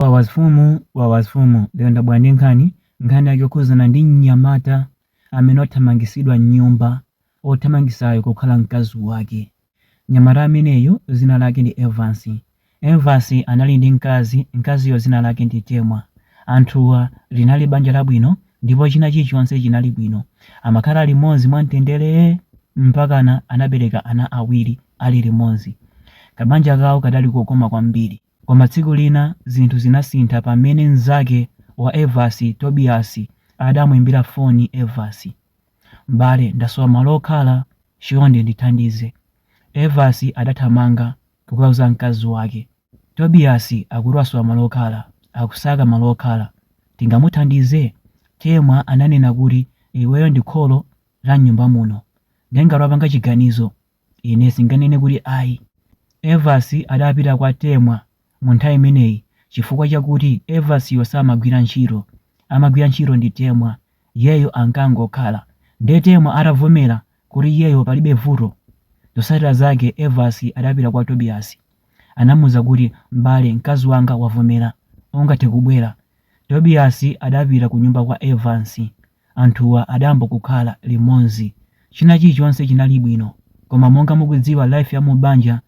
Wawa a Fumu, Wawa a Fumu, lero ndabwera ndi nkhani, nkhani yake yokhuzana ndi mnyamata amene wathamangisidwa mnyumba, othamangisayo kukhala mkazi wake. Mnyamata ameneyu zina lake ndi Evansi. Evansi anali ndi mkazi, mkaziyo zina lake ndi Temwa. Anthuwa linali banja labwino ndipo china chilichonse chinali bwino. Amakhala limodzi mwa mtenderee mpakana anabereka ana awiri ali limodzi. Kabanja kawo kadali kokoma kwambiri. Koma tsiku lina zinthu zinasintha pamene mnzake wa Evans, Tobias, adamuimbira foni Evans. M'bale, ndasowa malo okhala, chonde ndithandize. Evans adathamanga kukauza mkazi wake. Tobias akuti wasowa malo okhala, akusaka malo okhala. Tingamuthandize? Temwa ananena kuti iweyo ndi kholo la m'nyumba muno. Nde ngati wapanga chiganizo, Ine sindinganene kuti ayi. Evans adapita kwa Temwa mu nthawi imeneyi chifukwa chakuti Evansiyo samagwira ntchito, amagwira ntchito ndi Temwa, iyeyo ankangokhala. Nde Temwa atavomera kuti iyeyo palibe vuto, zosatira zake Evans adapita kwa Tobias. Anamuuza kuti m'bale mkazi wanga wavomera, ungathe kubwera. Tobias adapita kunyumba kwa Evans. anthuwa adayamba kukhala limodzi china chilichonse chinali bwino koma monga mukudziwa life ya mu banja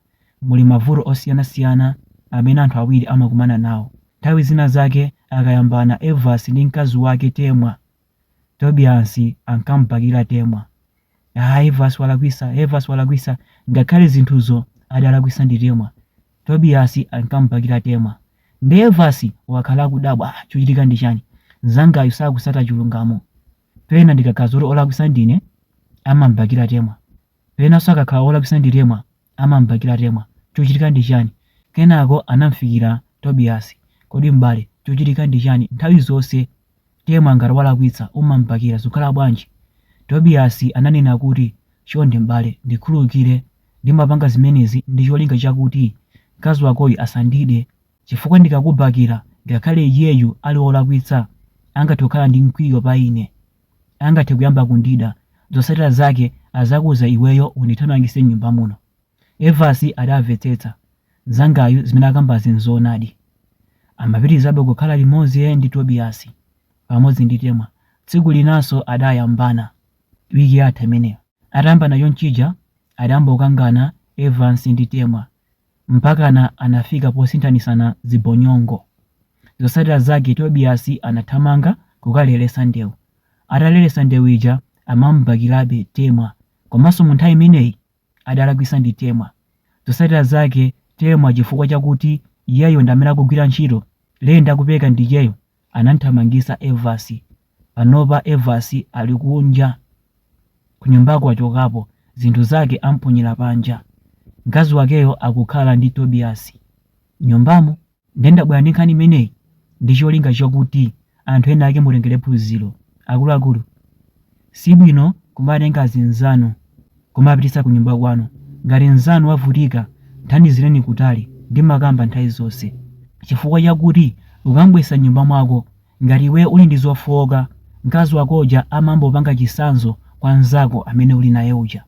muli mavuto osiyanasiyana amene anthu awiri amakumana nawo nthawi zina zake akayambana Evansi ndi mkazi wake Temwa Tobiasi ankamubakira Temwa ah Evansi walakwisa Evansi walakwisa ngakhale zinthuzo adalakwisa ndi Temwa Tobias ankamubakira Temwa. Nde Evans wakhala akudabwa, ah chochitika ndi chani? Mnzangayu sakusata chilungamo. Pena ndikakhala zoti olakwisa ndine, amamubakira Temwa. Penaso akakhala olakwisa ndi Temwa, amamubakira Temwa. Chochitika ndi chani? Kenako anamufikira Tobias. Kodi m'bale, chochitika ndi chani? Nthawi zonse Temwa ngati walakwitsa umam'bakira zikukhala bwanji? Tobiyasi ananena kuti, Chonde m'bale, ndikhululukire. Ndimapanga zimenezi ndi cholinga chakuti mkazi wakoyu asandide. Chifukwa ndikakubakira, ngakhale iyeyu ali wolakwitsa, angathe kukhala ndi mkwiyo pa ine. Angathe kuyamba kundida. Zotsatira zake azakuuza iweyo undithamangitse m'nyumba muno. Evansi adavetsetsa, Mnzangayu zimene akambazi nzoonadi. Amapitirizabe kukhala limodzi ndi Tobiyasi pamodzi ndi Temwa. Tsiku linanso adayambana, wiki yatha imeneyo. Atayambana chonchija adayamba kukangana Evansi ndi Temwa mpakana anafika posinthanisana zibonyongo. Zotsatira zake Tobiyasi anathamanga kukaleretsa ndewu. Ataleretsa ndewu ija amamubakirabe Temwa komanso munthawi imeneyi adalakwisa ndi Temwa. Zotsatira zake Temwa chifukwa chakuti iyeyo ndi amene akugwira ntchito Ray ndi ndi kupeza ndi iyeyo anamuthamangitsa Evas. Panopa Evas ali kunja kunyumbako wachokapo zinthu zake amponyera panja. Mkazi wakeyo akukhala ndi Tobias nyumbamo. Ndiye ndabwera ndi nkhani imeneyi ndi cholinga chakuti anthu ena ake mutengerepo phunziro. Akuluakulu, si bwino kumatenga azinzanu kumawapititsa kunyumba kwanu. Ngati mnzanu wavutika, mthandizireni kutali ndi makamba nthawi zonse. Chifukwa chakuti ukam'bweretsa m'nyumba mwako ngati iweyo uli ndi zofooka, mkazi wako uja amangopanga chitsanzo kwa mnzako amene uli naye uja.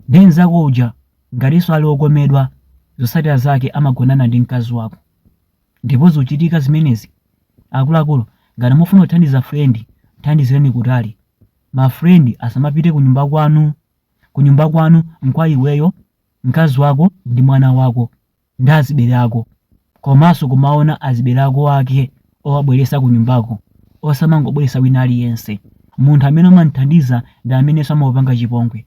Ndiye mnzako uja ngatinso ali okomedwa, zotsatira zake amagonana ndi mkazi wako. Ndipo zikuchitika zimenezi. Akuluakulu, ngati mufuna kuthandiza friend, mthandizireni kutali. Ma friend asamapite kunyumba kwanu. Kunyumba kwanu nkwa iweyo, mkazi wako ndi mwana wako, ndi azibere ako. Komanso kumaona azibere ako ake owabweretsa kunyumbako. Osamangobweretsa wina aliyense. Munthu amene umamthandiza ndi amenenso amakupanga chipongwe.